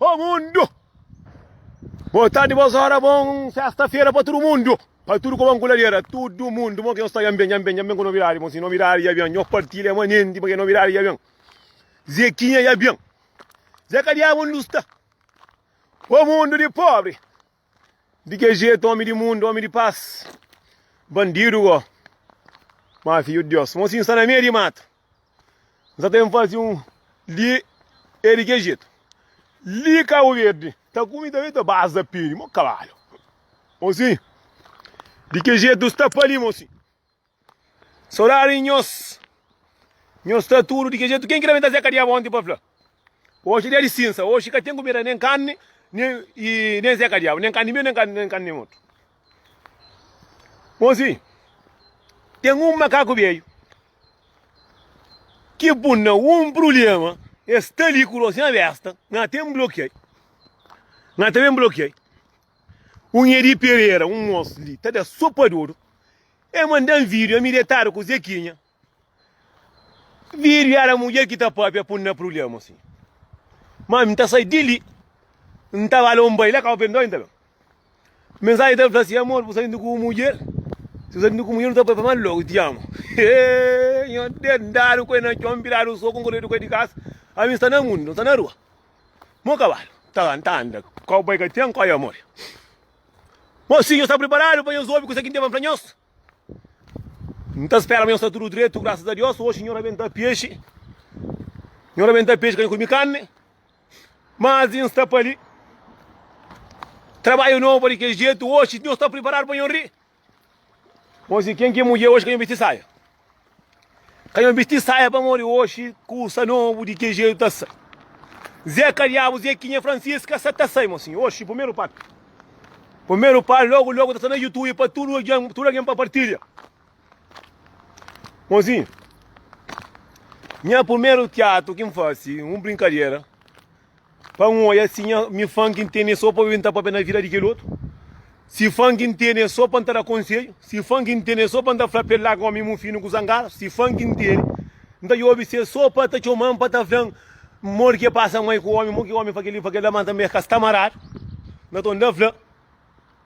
Ô mundu! Bô tardi, bôs óra, bon sésta-fera pa tudu mundu, pa tudu ku bon kuladera, tudu mundu. Mon ki nhos ta dja-m ben, dja-m ben, dja-m ben ku novidadi. Bon, si novidadi dja ben, nhos partilha ama nenti, pabia novidadi dja ben. Zekinha dja ben. Zeka Diabu, undi bu sta? Ô mundu di pobri! Di ke jeito omi di mundu, omi di pas, bandidu go ma fidju di Deus. Mon si nsta na meio di matu, nsta tem fazi um li e di ke jeito. Li Cabo Verde ta kumi ta veta bas da peri, mo cavalo. Mon si, di ke jeito sta pa li, mon si. Sodadi di nhos. Nhos sta tudo di que jeito? Quem que também trazia cadeia ontem para falar? Hoje é dia de cinza, hoje cá tem comida, nem carne, nem, e, nem Zé Cadiabo, nem carne meu, nem carne, nem carne outro. Bom, sim, tem um macaco veio que bunda um problema, está ali com a besta, não tem bloqueio, não tem bloqueio. Unha di Pereira, un moço li ta da sopa a dodo. El manda-m vídeo, ami detadu ku Zequinha. Vídeo éra mudjer ki ta pâpia pô-m na prubléma si. Má ami N ta sai di li, N ta ba la, N bai la, ka bu perdona N ta ben. Mensajen ta fla si, Amor, bu saindo ku un mudjer, si bu saindo ku un mudjer, bu ta bai pa mal lógu, ti amo. Êêê, nha dedadu ku el na txon, viradu soku, N korredu ku el di kasa. Ami N sta na mundu, N sta na rua. Mo kabalu ta ta anda, kowboi ka ten kói amor. Mosinhu, nhos sta priparadu pa nhos obi kuzê ki N ten pa N fla nhos? N ta spera ma nhos sta tudu dretu, grasas a Deus. Oxi, nho rabenta pexi, nho rabenta pexi ka nho kume karni. Mas i N sta pa li. Trabadju nobu pa di kes jetu. Oxi, nhos sta priparadu pa nho ri? Oxi, ken ki é mudjer oxi ka nho bisti saia. Ka nho bisti saia pamodi oxi kusa nobu di ke jetu ta sai. Zeca diabu Zequinha Francisca sa ta sai mosinha oxi primeru pá. Primeru pá logu logu ta sta na youtube pa tudu algen tudu algen pa partilha. Mosinha, nha primeru tiatu ki n fase un brinkadera. Pa N oia si nha, mi fan ki N tene é sô pa obi N ta pâpia na vida di kel otu Si fan ki N tene é sô pa N ta da konsedju Si fan ki N tene é sô pa N ta fla pa el larga omi mufinu ku zangadu Si fan ki N tene N ta djobi si é sô pa ta txoma-m pa ta fla-m Modi ki é pasa mai ku omi, mo ki omi fla kel-li, fla kel-la Má N ta merka sta maradu na ton da fla.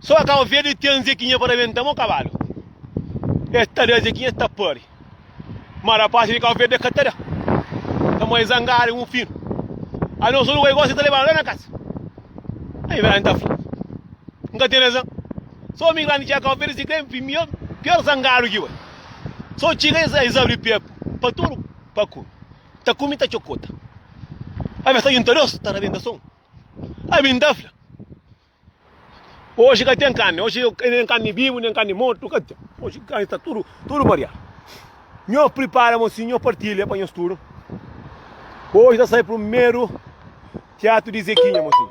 Sô ka kaba fia di ten Zekinha pa rabenta mo kabalu. Es ta da Zekinha, es ta pari. Ma rapasi di Kau Verdi e ka ta da. Ka ma e zangadu un fin. Ai no sonu ka e gosi ta lebanu la na kasa. Ai Vera N ta fla. N ka ten razan. Sô migrandi txega Kau Verdi si ka e mior, pior zangadu ki bai. Sô txiga e es abri pia pa tudu pa kumi. Ta kumi ta txokota. Ai ma es ta junta dos ta rabenta son. Ami N ta fla, Oji ka ten karni, oji nen karni bibu, nen karni mortu ka ten, oji karni sta tudu, tudu mariadu. Nho pripara mon sinhor partilha pa nhos tudu. Oji ta sai primeru tiatu di Zekinha, mon sinhor.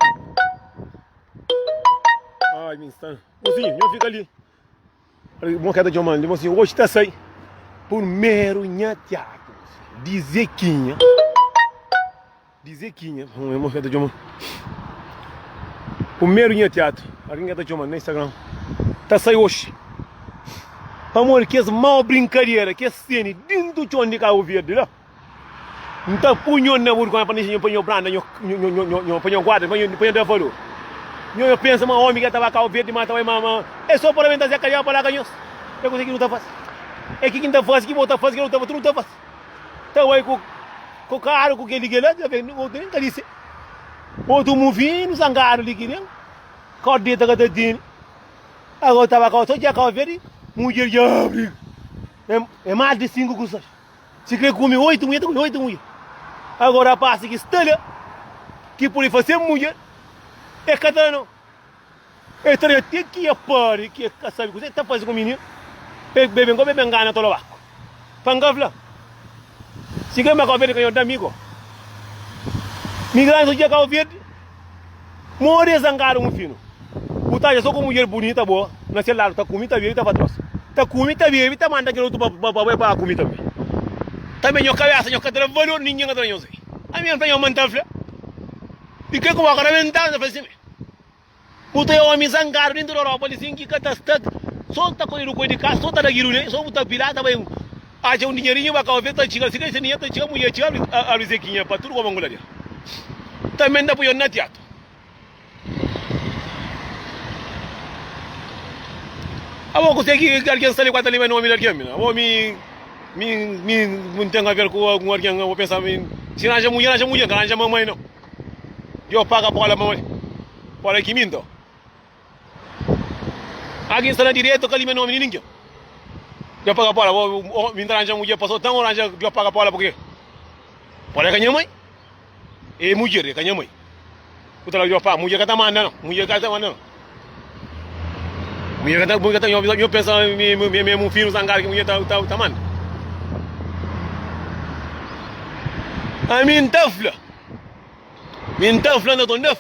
Ai, mi sta, mon sinhor, nho fika li. Mon ka ta txoma el, dja sin, oji ta sai purmeru nha tiatu di Zekinha, di Zekinha, mon ka ta txoma purmeru nha tiatu, algin ka ta txoma na Instagram, ta sai oji, pamodi kes mau brinkadera, kes seni dintu txon di Kabu Verdi la. N ta pui nho na burgónha pa N inxi nho pa nho branda, nho, nho, nho, nho, nho, pa nho guarda, pa nho, pa nho da valor. Nho, nho pensa ma omi ki el ta ba kau verdi ma ta bai ma, ma, e so pora ben ta zé kariau pa laga nhos. E kuzê ki nu ta fasi? E ki ki N ta fasi, ki bo ta fasi, ki el ta fasi, tudu ta fasi. Ta bai ku, ku karu, ku keli, kila, ta ben, otu nen ka dise. Otu muvinu, sangadu li ki nen, kau deta ka ta tene. Ago ta ba kau so dja kau verdi, mudjer dja briga. E, e mas di sinku kusas. Si kre kume oitu mujer ta kume oitu mujer agora rapasi ki sta la ki pudi fase mujer e ka ta no e ta da te ki e pari ki e ka sabi kuzê ta fase ku mininu e bebe nko bebe ngana tolo baku pa nka fla si kre ma kau verde ka nho da mi ko mi grandi so dja kau verde. Modi é zangadu un finu. Bu ta aja so ku mudjer bunita bo na se ladu ta kumi ta bebi ta fatros. Ta kumi ta bebi ta manda kel otu pa bai pa kumi tanbe. Tanbe nho kabesa nho ka ta da valor ningen ka ta da nho zé. Ami N fla nho ma N ta fla. Di ke ku bo ka ta mental ta fla si me. Bu ta e omi zangadu dintu di Europa li sin ki ka ta sta so ta kojedu koi di kas so ta da gidu ne so bu ta pila ta bai Atxa un dinherinhu ba kau vê ta txiga si dexi ninha ta txiga munhê txiga abri zekinha pa tudu kobongu la dia tanbe nda punhon na tiatu abo kuse ki algen sta li kua ta linba nomi di algen mi abo mi mi mi mi nten aver ku algun algen abo pensa mi si na atxa munhê na atxa munhê nka na atxa mamai nau yo paga pola mamai pola ki mi nto. Algin sta na direito ka lime nomi di ninguém. Deu paga pola, oh, mi ranja mulher passou então ou ranja deu paga pola porque pola é canha mãe. É mulher é canha mãe. O tala deu paga, mulher cata manda não, mulher cata manda não. Mulher cata, mulher cata, eu, eu penso me me me um filho zangar que mulher tá tá tá manda. A mim tafla. Mim tafla na tonda.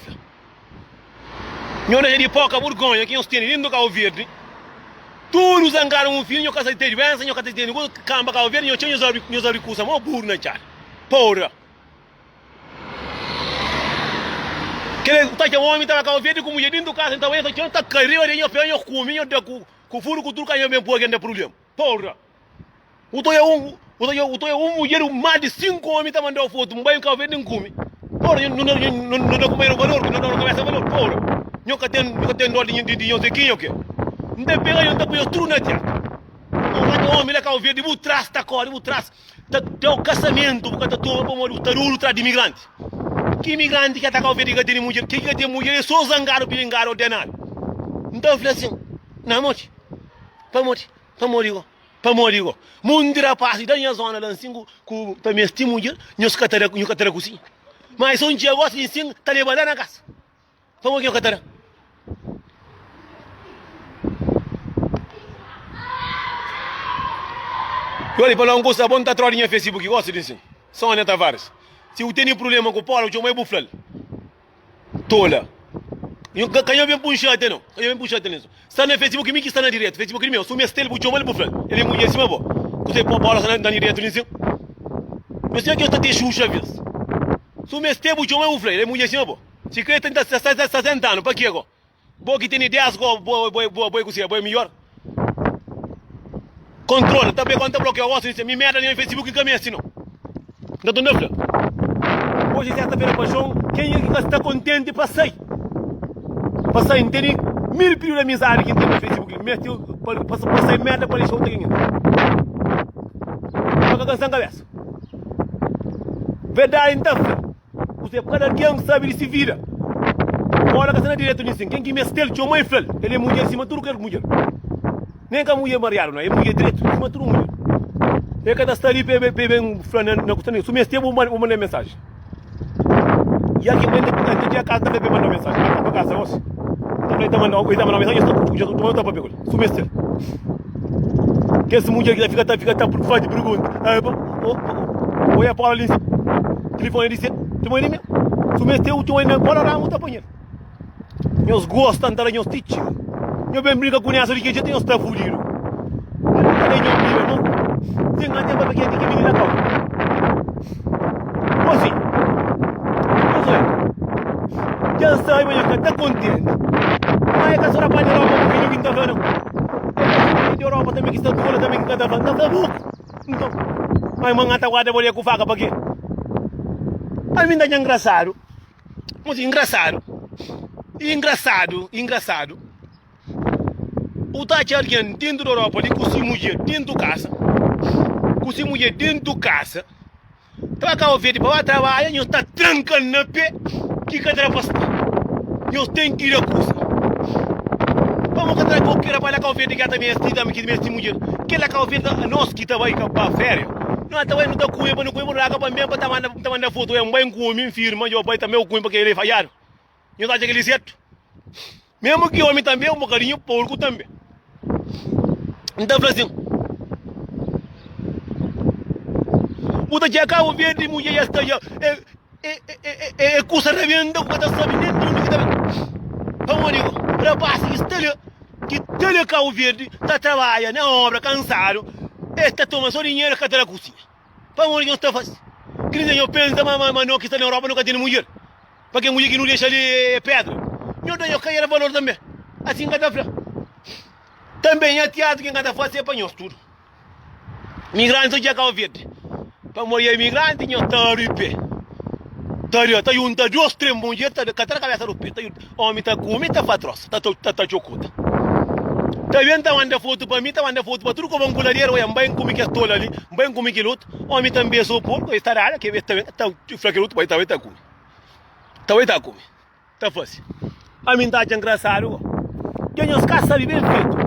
Nho dexa di poka burgonha ki nhos teni dentu di Kabo Verdi. Tudu zangadu un fim, nho ka sa di teni duensa, nho ka ta teni kusa. Kanba Kabo Verdi, nho txeu nhos abri, nhos abri kusa mo buru na txada. Pora! Kile ku ta txeu omi ta ba Kabo Verdi ku mudjer dentu kasa, nta bai nho sa txeu, nta kai riba di nho, pega nho, kumi nho, da ku furu ku tudu ka nho ben pua ken da prublema. Pora! U ta oja un, u ta oja, u ta oja un mudjer, un mal de cinco homem ta mandau foto, um banho cabo verde nem cume. Ora, nho, nho, nho, nho, nho dá comer valor, nho dá cabeça valor. Ora, nho cá tem, nho cá tem dó de, de, de, nho sei quem, ok? Não tem pega, não tem pega tudo na teca. Um rato homem lá cabo verde, bu traz, tá corre, bu traz. Tá, até o casamento, bu cá tá toma, pô, moro, tá duro, traz de imigrante. Que imigrante que tá cabo verde, que tem mulher, que que tem mulher, é só zangado, pilingado, ordenado. Então, eu falei assim, não, mote, pô, mote, Pamodi go? Pamodi go? Monti rapasi da nha zona la nsin ku ta mesti mudjer, nhos ka ta da, nho ka ta da kusinha. Má es son txia gosi nsin ta leba la na kasa. Pamodi ki nho ka ta da? Yo li fala un kusa, bo nta tródi nha fesibuki gosi di nsin. Sônia Tavares, Si bu tene prubléma ku Paula, txoma-i bu fla-l. Tola. Nhu ka kanha ben punxa até não. Kanha ben punxa até não. Está na Facebook kimi que está na direto. Facebook kimi, su mestre ele buchou mal bufla. Ele mulher sima bo. Kusei pô bola na na direto nem sim. Não sei que está te xuxa vez. Su mestre buchou mal bufla. Ele mulher sima bo. Se crê tenta 60 anos para que agora? Bo ki tene ideas go bo bo bo bo kuse bo miyor control ta be kon ta blokia osu ni se mi merda ni facebook ni ka mesti no nta ton da fla Hoje é sexta feira paixão quem é que ka sta contente pa sai pa sai nteni mil pidiu da mizadi ki ntene facebook li mesti pa pa sai merda pa lixou tagin el pa ka kansan kabesa verdadi nta fla. Kuzê ku kada algen sabe di se vida? Óla ka sta na direitu di nsin ken ki meste-l. Txoma i fla-l, el é mudjer sima tudu kel mudjer. Nen ka mudjer mariadu, nau, é mudjer direitu sima tudu mudjer. El ka ta sta li pa el ben fla-l na na kusta-l. Su meste, bu manda el mensaji. I algen pa el ta txia kaza ta fla el pa el manda-l mensaji. Ka ta ba kaza gosi. El ta fla el ta manda-l mensaji i el sta ku txoma txoma i el sta pa pega-l. Kumesa kes mudjer ki ta fika ta fika ta fazi pergunta. Ah, pa, oh, oh, olha a Paula Lins. Telefone disse, tu mãe minha. Se mete o teu na cola, ramo tá apanhando. Nós gostam de nós titio. Eu bem brinca com essa de que já tem os tá fudido. Tem a tempo que tem que vir na calma. Ozi, Josué, dja N sabe ma nha ka ta kontenti. Má é ka sô na pátria Europa ku fidju ki N ta fla, nau. É na kontinenti Europa tanbê ki sta tola, tanbê ki N ka ta fla, N ta fla bu. Nton, mai ma N ata guarda bo li ku faka. Pakê? Ami N ta dja ngrasadu. Ozi, Ngrasadu? Ingrasadu, ingrasadu. U ta atxa algen dentu di Europa li ku si mudjer dentu kasa, ku si mudjer dentu kasa, ta ba Kabo Verdi pa ba trabadja, nhos ta tranka-l na pé ki ka tra pa sta. Nhos ten ki da kusa. Pamodi ka tra goki rapaz la Kabo Verdi ki ata mesti ta miki mesti mudjer. Kel la Kabo Verdi ta nos ki ta bai ka pa féria, no ta bai no ta kume pa no kume pa no laga pa-m ben pa ta manda pa ta manda foto, ué, N bai N kume, N firma dja bai tanbe u kume pa ke lei fadjadu. Nho ta atxa kel-li zertu. Mésmu ki ómi tanbe, un bokadinhu porku tanbe. N ta fla asin, Bu ta txeka un via di mudjer es ta atxa e, e, e, e, e kusa rabenta ku ka ta sabe nen di undi ki ta ben. Pamodi ku rapás ki sta li, ki ta li Kabu Verdi, ta trabadja na óbra kansadu, es ta toma so dinheru, ka ta na kuzinha. Pamodi nhos ta faze kel-li? Nzê nhos pensa ma nau ki sta na Europa nu ka tene mudjer? Pa kel mudjer ki nu dexa li é pédra, nhos da nhos kaiera valor tanbê. Asin N ka ta fla. Tanbê nha tiadu ki N ka ta faze pa nhos tudu migrantis odja Kau Verdi. Pamodi é migranti nhos ta ripe, ta riba, ta junta dôs, três mudjer ta ka tra kabésa riba. Omi ta kumi, ta fatrosa, ta ta ta txokuta. Ta ben, ta manda fotu pa mi, ta manda fotu pa tudu koban ku laderu, oia, N bai N kumi kes tolu ali, N bai N kumi kel otu. Omi ta besa o porku, es ta dada, ke, es ta ben, ta fla kel otu, Bai, ta bai ta kumi. Ta bai ta kumi. Ta fasi. Ami N ta atxa ngrasadu ko. Ke nhos ka sabe ben fetu.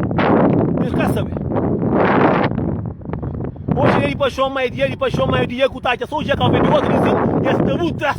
Nhos ka sabe. Oji dia di paxon, mai dia di paxon, mai dia ku ta atxa so dja ka obi di otu, es ta bu tras.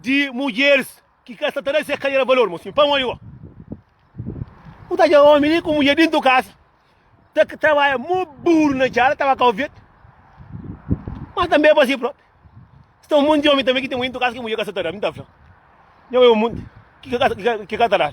Di mudjeris ki ka sta ta da se karera valor. Mo sin pa un odigo. Ku ta dja omi li ku mudjer dintu kasa. Ta ka trabalha mo buru na djala ta ba kau vet. Mas tanbe pa si propi. Sta un monti di omi tanbe ki ten mudjer dintu kasa ki mudjer ka sta ta da. Mi ta fla. Njo obi un monti ki ka ta da.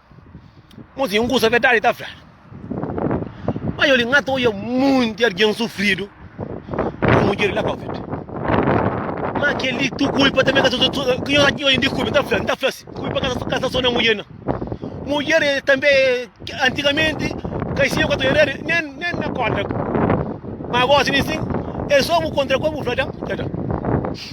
Mon zi, un kusa verdadi i ta fla. Ma yo li N ka ta oja monti algen sufridu ku mudjer di la Covid. Ma kel li tu kulpa tanbê ka sta so. Ki nhos acha ki nhos indi kulpa? N ta fla, N ta fla si, kulpa ka sta so na mudjer, na. Mudjer tanbê, antigamenti, kaixinha ku ka ta oja nel, nen nen na kóntra. Ma gósi, nin sin, el sô bu kontra kua bu fla, ta ta.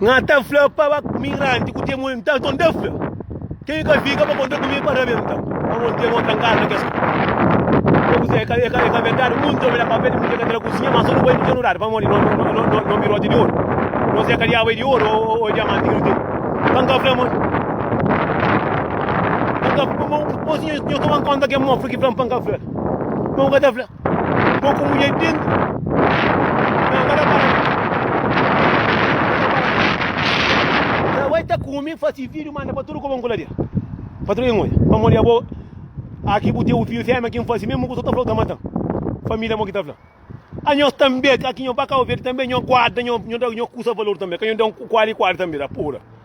Nga ta fla pa ba migranti ku temo então, então dá fla. Quem ka fica para contar comigo para mim então. Vamos ter outra casa que é que é que verdade muito obrigado para ver muito que cozinha mas não vai me ignorar. Vamos ali, não não não não não birote de ouro. Não sei que é de ouro ou, ou diamante que não tem. Então, vamos. Então, vamos cozinha Nho ka ban konta ken mofla ki fla-m pa N ka fla. Nho ka ta fla. Nho ku mudjer pintu. Nho ka ta para li. Tra bai ta kume, fasi fidju, manda pa tudu ku ban kuladia. Patrun ken odja. Pamodi abo, aki bu teu fidju femia ki N fasi, mesmu ku so ta fla-u ta mata-m. Família mo ki ta fla. Anhos tanbe, ka ki nho ba kau verde tanbe nho guarda nho kusa valor tanbe. Ka nho da-m ku kuali kuali tanbe, ta pura.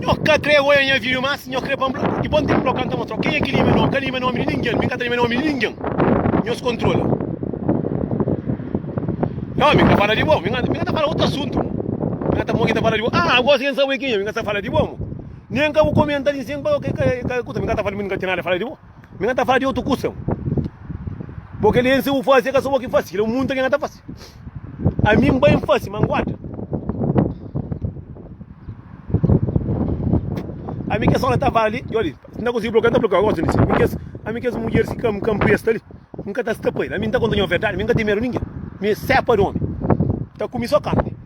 Nho ka krê oia nha vídeo más, nho krê pâmpla i bom ténpu la kanta mostra-u kenha ki lime nomi, ka lime nomi di ningen, mi ka ta lime nomi di ningen, nhos kontrola. Nho mi ka fala di bo, mi ka ta fala otu asuntu mo, mi ka ta mo ki ta fala di bo, ah agora si kensa bo é kenha, mi ka ta fala di bo mo, nen ka bu komenta li sen pa ka kusa, mi ka ta fala, mi ka ten nada fala di bo. Mi na ta fala di otu kusa. Bo kel li nsibu fasi, e ka so bo ki fasi, kel li munta ki na ta fasi. A mi n bai fasi, ma n guarda. A mi kes ona ta fala li, yo li, si n ta konsigi blokeu, n ta blokeu agosi li. Mi kes, a mi kes mulheris ki ka m ka m presta li, n ka ta stapa el. A mi n ta konta nho verdadi, mi n ka ten medu di ningen. Mi é sepa di omi, ta kumi so karni.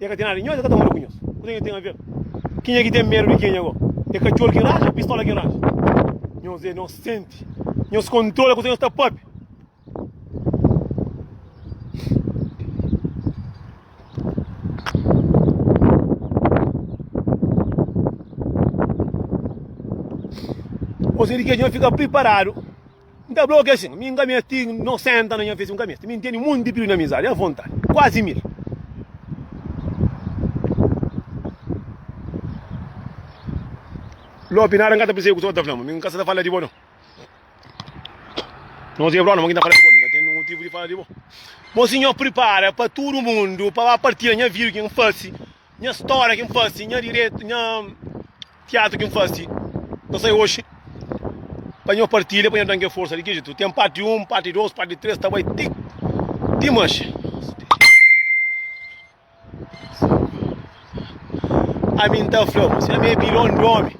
E ka ten nada di nhos, e ka ta modi ku nhos. Kuzê ki e ten aver? Kenha ki ten medu di kenha go? E katxor ki ranja o pistola ki ranja? Nhos e inosenti. Nhos kontrola kuzê nhos ta pape. Osi di ke nhos fika priparadu. N ta blokia sin, mi N ka mesti no senta na nha fesi, N ka mesti, mi N teni monti pidu na amizadi a vontadi, kuazi mil. Lopi, nada N ka ta pirsebe ku se otu ta fla ma, mi N ka sa ta fala di bo no. Nos e brona, ma ki N ta fala di bo, mi ka teni motivu di fala di bo. Bo si nho pripara pa tudu mundu, pa ba partilha nha vida, ki N fasi, Nha stória ki N fase, nha diretu, nha tiatru ki N fase ta sai oxi pa nho partilha, pa nho da-m ke forsa di Kijitu. Ten parti 1, parti 2, parti 3, ta bai ti Dimanxi. Ami N ta fla-bu, si ami é bilon di ómi.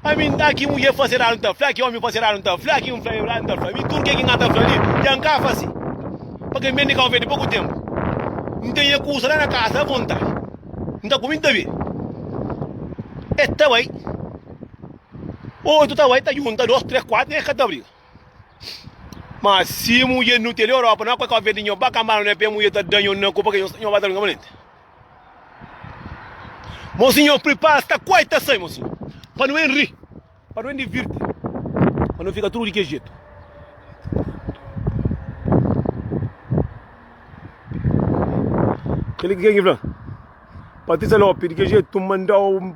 Ami N ta ki mudjer faze radu N ta fla ki omi faze radu N ta fla ki N fla radu N ta fla mi tudu ke ki N ta fla li dja N ka faze pa kel mende Kau Verde poku tenpu N ten nha kusa la na kaza avontadi N ta kume N ta be e ta bai otu ta bai ta junta dos tres kuatu nha ka ta briga ma si mudjer nu tele Europa na kue Kau Verde nho ba kanba la nho pe mudjer ta da nho na ku pa ke nho ba ta briga malente. Mozinho prepara sta quai ta sai mozinho pa nu en ri pa nu en divirti pa nu fica tudo di que jeito Ele que quem fla Patrícia Lopes de que jeito tu mandou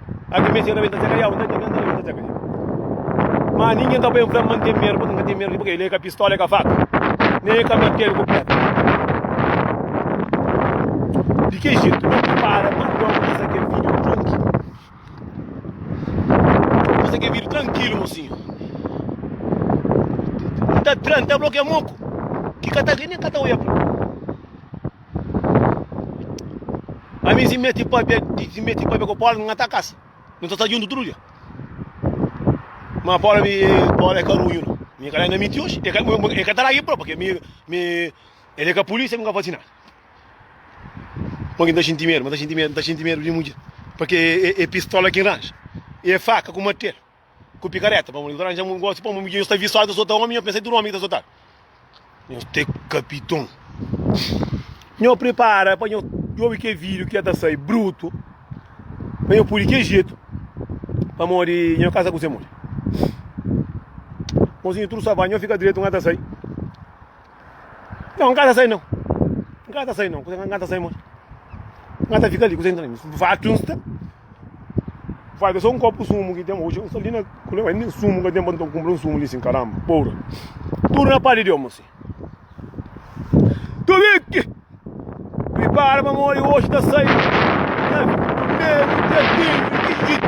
Algin mexi na mi ta txeka ya un ta txeka un ta txeka ya ma ninguin ta bai fla man tem medo paka ka tem medo paka ele ka pistola ka faca nem ka martelo ku pedra di que jeito não te para mas não precisa que vídeo tranquilo precisa que vídeo tranquilo mocinho não tá tranquilo tá bloqueia moco que cata nem cata olha para Ami si meti papia, si meti papia ko Paula, nga ta kasa. Nu ta sta juntu tudo dia. Ma Paula, mi, Paula é carunho, não. Mi calhar ainda menti hoje. É que tá lá e próprio, porque mi, mi, ele é que a polícia nunca faz nada. Porque não tá sentindo medo, não tá sentindo medo, não tá sentindo medo de mulher. Porque é, é, é pistola que range, é faca com martelo. ku pikareta pamodi ta ranja un gosi pamodi yo sta visual ta sota omi yo pensa tudu omi ki ta sotal nho te kapiton nho pripara pa nho obi ke vídeo ki ta sai brutu pa nho pudi ke jetu pamodi nho kasa ku se modi mozinho tudo sabá nho fika direto nga ta sai nho nga ta sai não nga ta sai não nga ta sai modi nga ta fika ali ku se entra fatu Vai bê sô un kopu sumu ki ten ba. Oxi, un sali na kule, bai nen sumu ka ten ba, nton kunpra un sumu li sin, karamba, poura. Tudu na pá di Deus, mô si. Tubiki! Pripara pa mori, oxi ta sai. Na primeru dia 15 di jitu.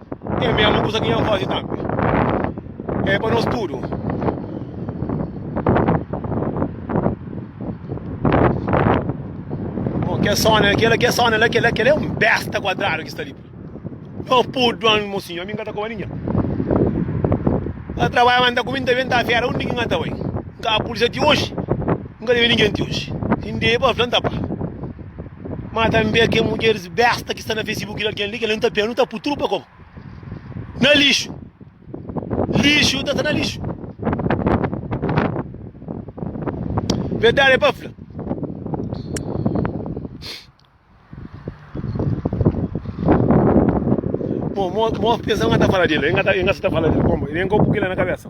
É mesmu kusa ki nha fazi tambi. É pa nos tudo. Bom, que sona, aquela que sona, lá, aquela, aquela é um besta quadrado que está ali. Não pudo, mocinho, a mim cata com a ninha. A trabalho manda com muita venta a fera, onde que engata vai? Cá a polícia de hoje, nunca teve ninguém de hoje. Inde para planta pá. Má tanbê kel mudjeris bésta ki sta na Facebook di algen li, kel-la nu ta pia, nu ta pui tudu pa kau, na lixu. Lixu ta sta na lixu. Verdadi é pa fla. Mo, mo, mo pensa, el ka ta fala di-l, el ka ta, el ka sa ta fala di-l, konba, el ka pui kel-la na kabésa.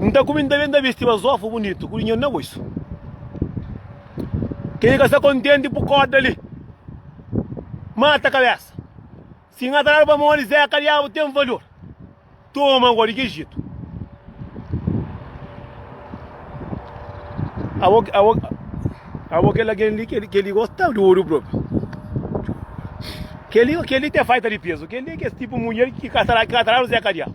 N ta kume, N ta be, N ta bisti bazofa bunitu ku dinheru na bolsu. Ke ki ka sta kontenti pu korda li mata kabesa. Si N ataradu pamodi Zeka diabu ten valor, toma agora di ki jitu. Abo, abo, abo kel algen li, kel li gosta di oru propi. Kel li, kel li te faita di peso. Kel li é kes tipu mulher ki ka ataradu Zeka diabu.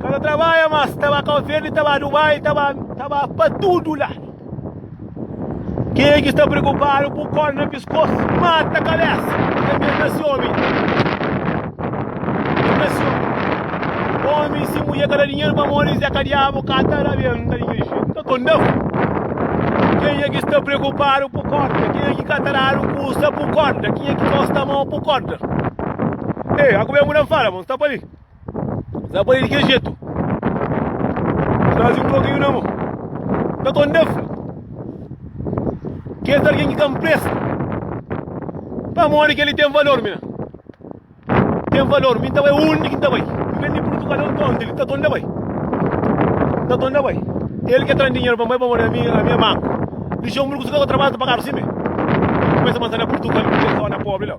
Ka ta trabadja más, ta ba Kau Verdi, ta ba Dubai, ta ba, ta ba pa tudu ladu. Kenha ki sta preokupadu ku kórda na piskos, mata kabésa, ta meta si ómi, meta si ómi. Ómi si mudjer ka da dinheru pamodi Zé ka diabu, ka ta rabenta di kel jetu. Ka kondau. Kenha ki sta preokupadu ku kórda, kenha ki ka ta dadu kusa ku kórda, kenha ki gosta amau ku kórda. Ei, a comer mudan fala, vamos tapar ali. Tapar ali de que jeito? Traz um pouquinho na mão. Tá tão defro. Quer alguém que campresta? Pra morrer que ele tem valor, mina. Tem valor. Minta vai onde que tá vai. Vem de Portugal, não tá onde ele tá tão da vai. Tá tão da vai. Ele quer trazer dinheiro pra mãe, pra morrer a minha, a minha mãe. Deixou um bruxo que eu trabalho pra carro, sim, mesmo. Começa a mandar na Portugal, porque eu sou na pobre, não.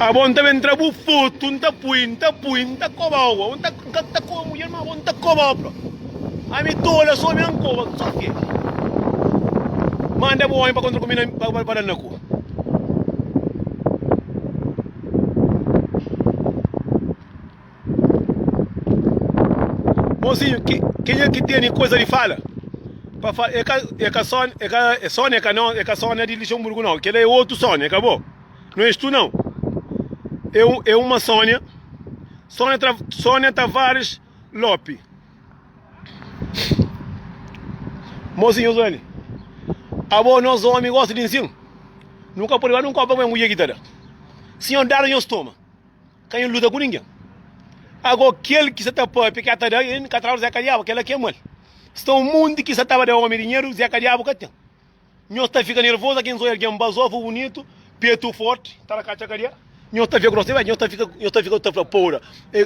Abo nta ben tra bu fotu nta pui nta pui nta kobau bo nta nka ta koba mudjer ma abo nta kobau bro ami tola so ami an koba so ke manda bu homem pa kontra ku mi pa dal na ku Mozinho, ki, kenha ki teni koza di fala? Pa fala, e ka, e ka son, e ka, e son e ka não, e ka sona di Luxemburgo não. Kela é outro Sônia, ka bo. Não és tu não. É, um, é uma Sônia. Sônia, Tra, Sônia Tavares Lope. Mozinho Zani, abo nós homem gosta de ensino. Nunca pode levar num copo com a mulher guitarra. Senhor, dar nós toma. Ka N luta ku ningen. Ago kel ki sa ta pâpia ki ata da N ka trau Zeka Diabu, kel-la ki é mal. Sta un monti ki sa ta ba da omi dinheru, Zeka Diabu ka ten. Nhos ta fika nervozu ki N so algen bazofu, bunitu, petu forti, ta da katxa kadia. Nhos ta fia grosu demais, nhos ta fika, nhos ta fika ta fla poura. E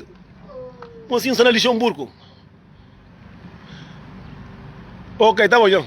Mo si N sta na Lixenburgu. Ok, ta bon djon.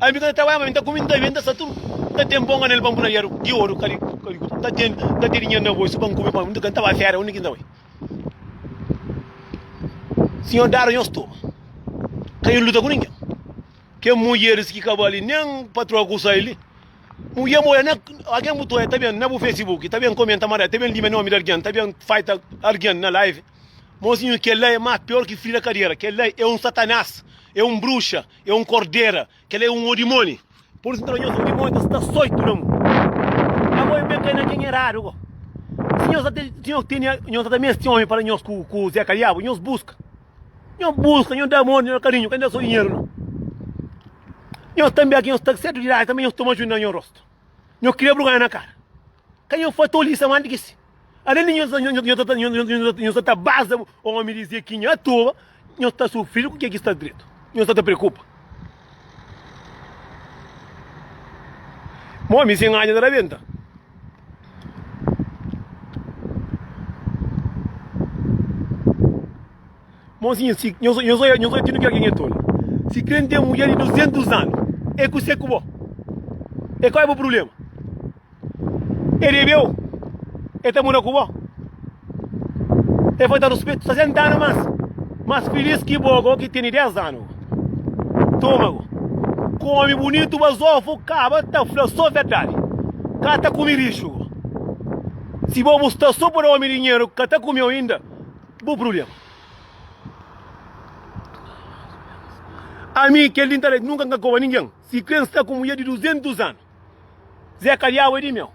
Ami mi ka ta trabadja, ma ami n ta kume, n ta bebe, n ta sta tudu. N ta ten bon anel pa n pui na dedu di oru, ka di kau. N ta ten dinheru na bolsu pa n kume, pa n ka ta bai feria. Undi ki n ta bai? Sinhor dadu nhos tudu, ka nhos luta ku ningen. Kel mudjeris ki ka bai li, nen patroa ki usa el li, mudjer mô la, algen bu ta oja ta ben na bu facebook, ta ben komenta mal di el, ta ben lima nomi di algen, ta ben fita algen na live. Mozinhu, kel la é más pior ki fri na kadiera. Kel la é un satanas, é un bruxa. É un kordera, kel é un odimoni. Por isu, nton, nhos odimoni ta sta soitu na mon. Nha boi ben kai na ken eradu ko. Si nhos ta, si nhos tene, nhos ta da meste omi pa da nhos ku, ku Zé Kaliabu, nhos buska. Nhos buska, nhos da amor, nhos da karinhu, ka N da so dinheru nau. Nhos ta nbia ki nhos ta sedu di ladu, tanbe nhos toma juda na nho rostu. Nhos kria brugada na kara. Ka nho fla toli sa mante ki si alende nho sa nho sa ta nho sa ta baza omi dizia ki nha toba nho sta sufridu ku ke ki sta dretu nho sa ta preokupa ma omi sen anja ta rabenta Monsinha, si nhos, nhos olha, nhos olha ti nu kre ki nha tolu. Si kre n'ten mulher di 200 anu, e kuse ku bo? E kal e bo problema? E debeu, e ta mora ku bo? E falta ruspetu, sa 60 anu mas, mas filis ki bo go ki teni 10 anu. Toma go, kome bunitu bazofu kaba ta fla so verdadi, ka ta kume rixu go. Si bo bu sta so pa da omi dinheru, ka ta kumeu inda. Bo problema. Ami kel di ntaredi nunka nka koba ningen. Si kre nsta ku mudjer di 200 anu ze ka diabu e di meu.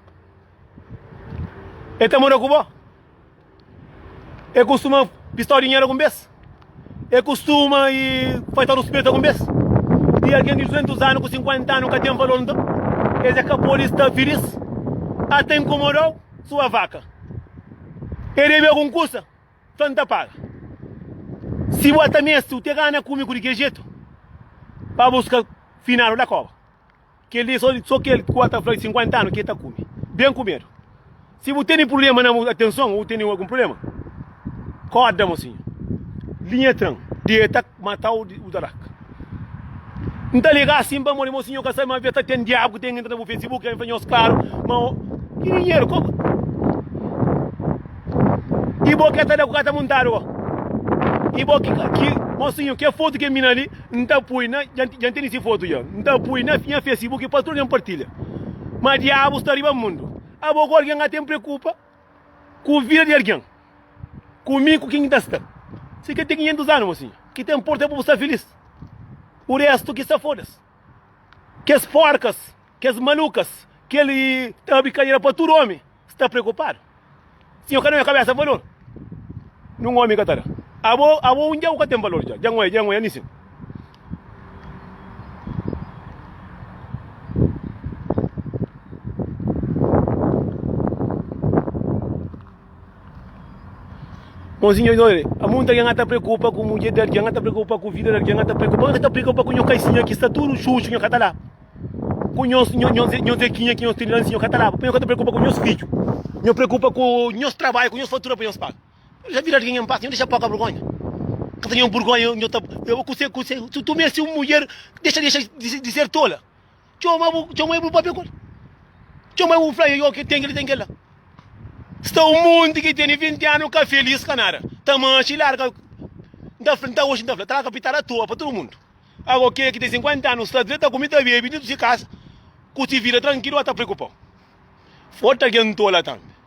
E ta mora ku bo. E kustuma pistau dinheru algun bes. E kustuma i faltau ruspeitu algun bes. I algen di 200 anu ku 50 anu ka ten valor nton e ze ka podi sta filis. Ata inkomodau sua vaka. E debe algun kusa, fla N ta paga. Si bu ata meste, u te gana ku mi ku di kel jetu, pa bu ska finadu da koba. Kel dia so, so kel ku ata fla di sinkuenta anu ki e ta kume ben ku medu. Si bu tene prubléma na bu atenson, o tene algun prubléma? Koda mosinha. Linha tran. Deta mata o dadak. N ta liga assim pa modi mosinha ka sabe ma avia ta ten diabu ki ten entra na bu Facebook en fla nhos klaru ma o ki dinheru ko i bo ke ta da ku ka ta muntadu ko i bo ki ki mosinho ke fotu ke mina li n ta pui na ja ja teni si fotu ja n ta pui na nha Facebook pa tudu algen partilha ma diabu sta riba mundu abo ku algen ka ten preokupa Ku vida di algen. Ku mi, ku kin ki ta sta. Si ki ten kinhentus anu, mosinha. Ki ta inporta é pa bu sta filís. O restu ki sa fodas. Kes porkas, kes malukas. Kel i ta abri kadera pa tudu omi sta preokupadu. Si nho ka da-m kabesa valor, nun omi ka ta da. Abo, abo un dja bu ka ten valor dja. Dja N oi, dja N oi, Anisin. Bonzinho oi dole, a muita gen a ta preocupa ku mudjer di algen, a ta preocupa ku vida di algen, a ta preocupa, a ta preocupa ku nho kaisinha ki sta tudo xuxu, nho ka ta la, ku nho zekinha ki nho tiri la, nho ka ta la, pa nho ka ta preocupa ku nhos fidjo, nho preocupa ku nhos trabalho, ku nhos fatura pa nhos paga. Nhu dja bira di kenha npasa, nhu dexa poka burgonha. Ka ta nhu burgonha, nhu ta. Eba kuse, kuse, su tu meste un mudjer, dexa, dexa di ser tola. Txoma bu, txoma bu papia kol. Txoma bu fla, yo ki ten kel, ten kel la. Sta un monti ki tene 20 anu ka felis ka nada. Ta manxi, larga. Nta fla, nta oxi nta fla, traga pitada a toa pa tudu mundu. Ago kel ki ten 50 anu sta dre, ta kumi, ta bebe, dintu si kasa, ku si vida trankilu, a ta preokupau. Fota algen tola tambi.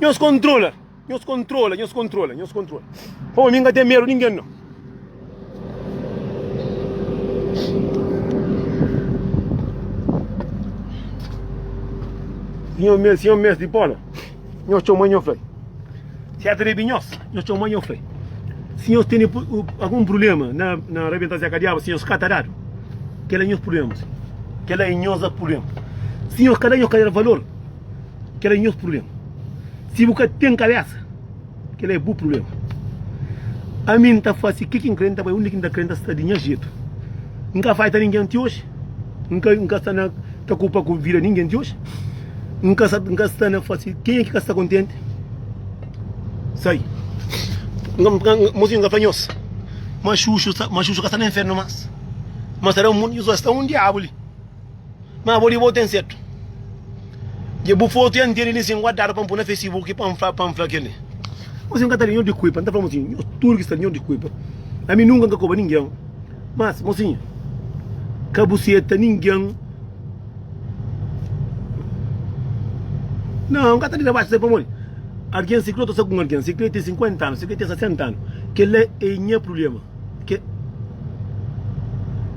Nhos kontrola, nhos kontrola, nhos kontrola, nhos kontrola. Pô, mi ka tem medo ninguém não. Senhor meu, Senhor meu, de bola. Nhos tchau mãe, nhos flei. Certo de binhos, nhos tchau mãe, nhos flei. Senhor tem algum problema na, na rebentar Zé Cadiaba, senhor, catarado. Que é nhos problemas. Que é nhos problemas. Senhor, cadê nhos cadê valor? Kel-la é nhos prubléma. Si bu ka ten kabésa, kel-la é bu prubléma. Ami N ta fase ke ki N krê, N ta bai undi ki N ta krê, N ta sta di nha jetu. N ka faita ningen ti oji, N ka N ka sta na preokupa ku vida ningen ti oji, N ka N ka sta na fase ken é ki ka sta kontenti. Sai. Mozinhu N ka fla nhos ma Xuxu ma Xuxu ka sta na infernu más, ma sta na mundu nhos, sta un diabu li. Ma bo di bo ten setu. Dje bu fotu ya ntende li sin guardadu pa N pui na fesibuki pa N fla pa N fla keli. Nhosi N ka ta li, nho di kuipa. N ta fla mosinha, nho tudu ki sta li nho di kuipa. Ami nunka N ka koba ningen. Mas, mosinha, ka bu seta ningen. Nau, N ka ta dita baxi se pamodi algen, si kli o ta sta ku un algen, si kli ten 50 anu, si kli ten 60 anu, kel la e nha prulema.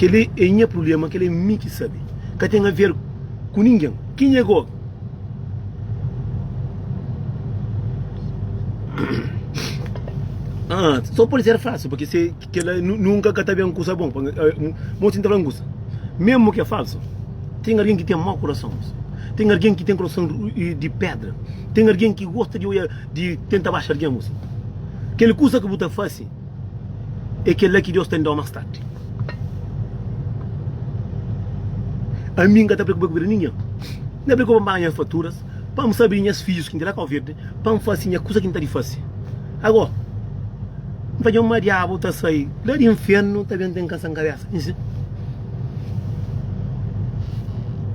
Kel-li é nha prubléma, kel-li é mi ki sabe. Ka ten aver ku ningen. Ki nha go. Haa so pode ser falsu pake se kel-la nunka ka ta ben ku sabon. Mo sinta fla ngusa. Mesmu ki é falsu, ten algen ki ten mau kurason. Ten algen ki ten kurason di pédra. Ten algen ki gosta di odja, di tenta baxa algen. Kel kusa ki bu ta fase. é kel-la ki Deus ta inda-u más tardi. Ami N ka ta preokupa ku bida di ningen. N ta preokupa pa N paga nhas faturas, pa N sta bini nhas fidjus ki inda la Kau Verdi, pa N fase nha kusa ki N ta di fase. Ago, N ta dja ma Diabu ta sai la di infiernu ta ben ten kansa N kabesa. N dizi,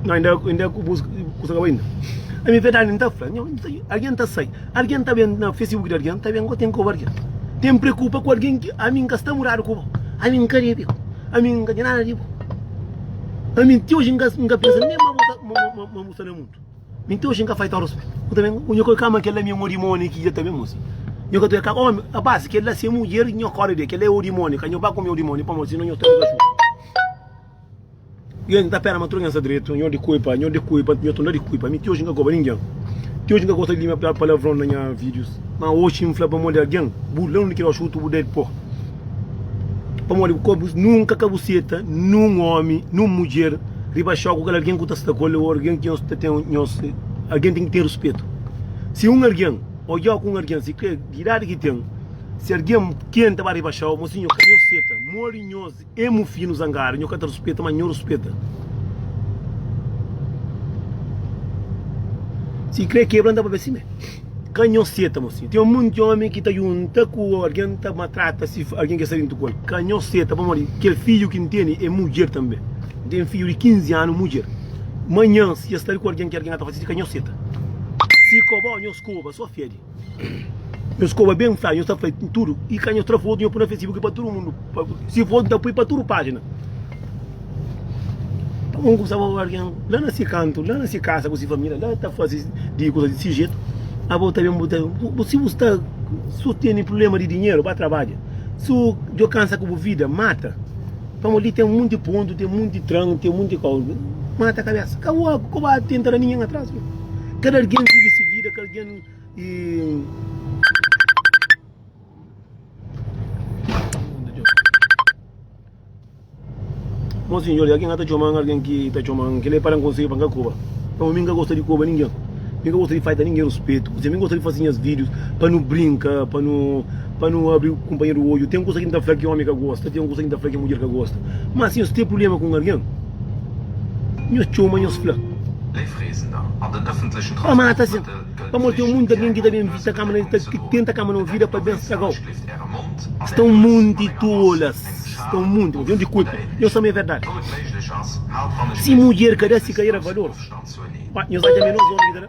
Nau, inda ku bus kusa ka bai inda. Ami verdadi N ta fla, Nau, algen ta sai. Algen ta ben na Facebook di algen, ta ben goten koba algen. Ten n preokupa ku algen ki ami n ka sta mudadu ku bo. Ami n ka debe bo. Ami n ka ten nada di bo. Ami ti oji n ka n ka pensa nen ma bo ta ma ma bo sta na mundu. Mi ti oji n ka fai-l tau rispitu. Bo ta ben nha kua kama kel-la mi é un odimoniu ki dja ta ben mos. Nha kua ta kama omi, rapasi, kel-la si é mudjer nha kóre di el. Kel-la é odimoniu ka. Nho ba ku mi odimoniu pamodi si no nho sta tudu na xuntu. Io n'ta pera ma tudu algen sta dretu Nho di kuipa, nho di kuipa Nho ta di kuipa Mi ti oji n'ka koba ningen Ti oji n'ka gosta di lima palavron na nha videos Ma oji n'fla pamodi algen Bu la un di kila oxi utu bu ded po Pamodi bu kobu nunka ka bu seta Nun omi, nun mudjer Riba xou ku kal algen ku ta sta ku el Ô algen ki nhos ta ten nhos Algen ten ki ten ruspetu Si un algen odjau ku un algen sikrê Di idadi ki ten Si algen ken ta ba riba xou Mo si nho ka nhos seta Modi nhos. Ê mu finu zangadu nho ka ta ruspeta ma nho ruspeta si kre kebra nta papia sime ka nho seta mo si ten munti omi ki ta junta ku algen ta matrata si algen ke sta dintu ku el ka nho seta pamodi kel fidju ki nteni ê mudjer tanbe nten fidju di 15 anu mudjer manhan si el sta li ku algen ki algen ka ta fasi si ka nho seta si koba o nho skoba so fedi. Nhos koba ben fla nhos ta fla tudu i ka nhos tra fotu nhos pui na facebook i pa tudu mundu si fotu ta pui pa tudu pajina un ku staba obi algen la na si kantu la na si kasa ku si familia la ta fasi di kusa di si jetu abo ta ben bu ta si bu sta si bu tene prublema di dinheru ba trabadja si bu djo kansa ku bu vida mata pamo li ten munti pontu ten munti tranu ten munti koba mata kabesa ka bu koba atenta na ningen atras kada algen vivi si vida ka algen. Mon sinhor, i algen ka ta txoma-m algen ki ta txoma-m kel-li é pa da-m konsegu pa n ka koba pamodi mi n ka gosta di koba ningen mi n ka gosta di falta ningen ruspetu kuzê mi n gosta di faze nhas vídius pa nu brinka pa nu pa nu abri kunpanheru odju ten kuza ki n ta fla ki ómi ka gosta ten kuza ki n ta fla ki mudjer ka gosta má si nhos ten prubléma ku un algen Nhos txoma, nhos fla. Pa mata sen. Pamodi ten monti algen ki ta ben vizita ka-m na Itália, ki tenta ka-m na vida pa ben straga-u. Sta un monti tolas. Sta un monti. Avion di kulpa. Nhos fla ma é verdadi. Si mudjer ka da si karera valor, nhos atxa minoz ómi ki ta da.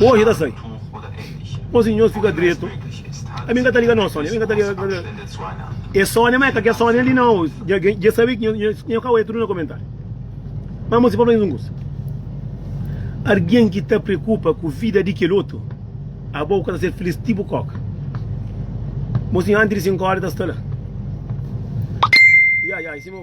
Oji ta sai. Osi nhos fika dretu. Ami n ka ta liga nos Sonia. Ami n ka ta liga ka ta E Sonia ma e ka kes Sonia li nau. Dja sabi ki nhos ka oja tudu na komentariu. Ma amosi pa flanu un kusa. Argin ki ta preokupa ku vida di kel otu abo bu ka ta ser filis ti bu koka. Mosi anti di 5 ora e ta sta la. Ya ya i sima.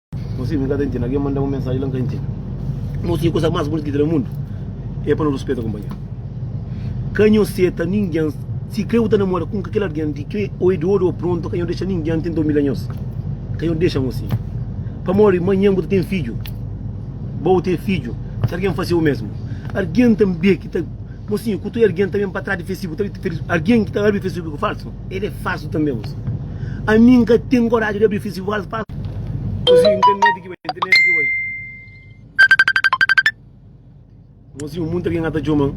Nau si mi ka ta intende algen manda un mensaji la n ka intende. Nau si kusa mas bunita ki ten na mundu e pa no ruspeta kunpanheru. Ka nho seta ningen si kre bu ta namora ku un ka kel algen di kre o e di odu o prontu ka nho dexa ningen tenta umilha nhos ka nho dexa nau si pamodi manhen bu ta ten fidju bo bu ten fidju si algen fase u mesmu algen tanbe ki ta nau si ku toi algen ta ben pa tras di fesibu ta algen ki ta abri fesibu falsu. El é fásil tanbê use. Ami N ka ten koraji di abri fisival pa. Use internet ki bai internet ki bai. Mozinho muita algen a ta txoman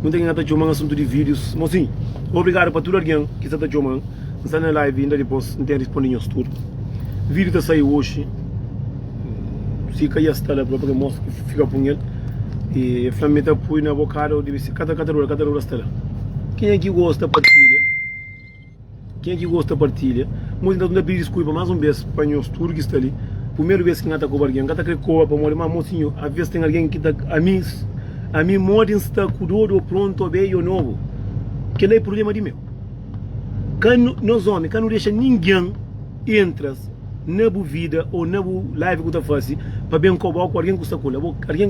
muita algen a ta txoman asuntu di videos mozinho obrigado pa tudo algen ki sa ta txoman N sta na live inda dipos N ten responde nhos tudo video ta sai hoje. si ka ya sta la própi ka mostra ki fika pun el e el fla mi ta pui na bokada o debe ser kata kata rura kata rura sta la kenha ki gosta partilha kenha ki gosta partilha nho ta ta pidi diskulpa más un bes pa nhos tudu ki sta li primeru bes ki nha ta koba algen nha ka ta kre koba pamodi ma mô sinhor aves ten algen ki ta ami ami modi nsta ku dodu o prontu o bedju o nobu kela é prubléma di meu. Ka nu, nos omi, ka nu dexa ningen entras na bu vida o na bu live ku ta fasi pa ben koba o ku algen ku sta kula bo. Algen.